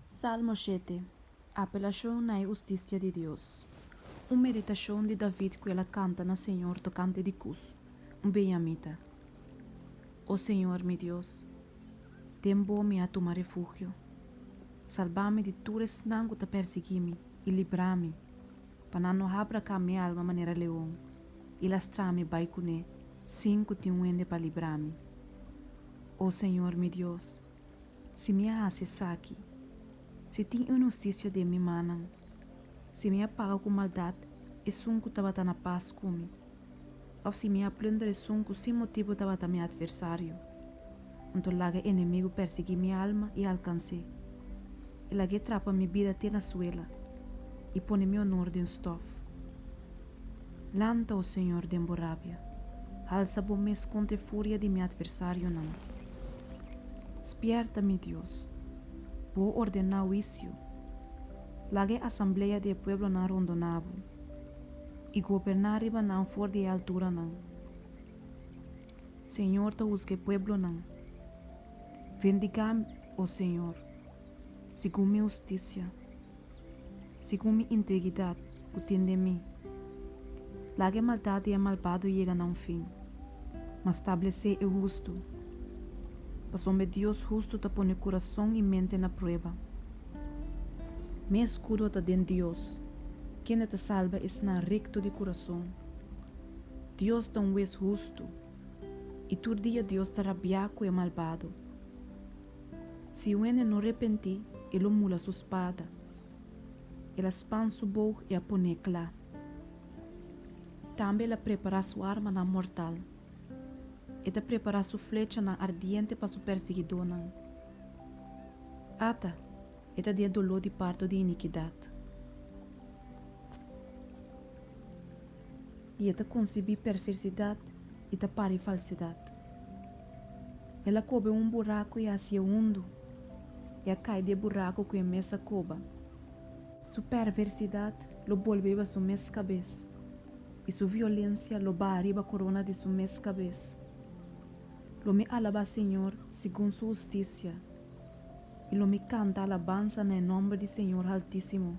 Salmo shete, Apelashon na e hustisia di Dios. Un meditashon di David ku el a kanta na Señor tokante di Cus, un benyamita. O Señor mi Dios, den bo mi a tuma refugio. Salbá mi di tur esnan ku ta pèrsiguí mi i librá mi, pa nan no habra ka mi alma manera leon i lastrá mi bai kuné sin ku tin un hende pa librá mi. O Señor mi Dios! Si mi a hasi esaki, si tin inhusticia den mi mannan, si mi a paga cu maldad esun cu tabata na paz cu mi, of si mi a plunder esun cu sin motibo tabata mi adversario, anto laga e enemigo persegui mi alma y alcancé. E lagu'é trapa mi bida te na suela y pone mi honor den stof. Lanta, O Señor, den bo rabia, halsa bo mes contra e furia di mi adversarionan. Spièrta, mi Dios, bo ordená huicio, laga e asamblea di e pueblonan rondoná bo, i goberná riba nan for di e alturanan. Señor ta husga e pueblonan. Vendigá mi, O Señor, segun mi husticia. Segun mi integridad cu tin den mi. Laga e maldad di e malbado yega na un fin, ma stablece e hustu, pasobra e Dios hustu ta pone curazon y mente na prueba. Mi escudo ta den Dios, kende ta salba esnan recto di curazon. Dios ta un Wes hustu, y tur dia Dios ta rabia cu e malbado. Si un hende no repentí, e lo mula su spada, el a span su boug i a pon'é kla. Tambe el a prepará su armanan mortal. E ta prepará su flechanan ardiente pa su persigidónan, ata e ta di'a doló di parto di inikidat. i e ta konsibí perversidat i ta pari falsidat. El a koba e un buraku i a hasi e hundu, i a kai di e buraku ku e mes a koba. Su perversidat lo bolbe riba su mes kabes, i su violensia lo baha riba korona di su mes kabes. Lo mi alabá Señor segun su hustisia, i lo mi kanta alabansa na e nòmber di Señor Haltísimo.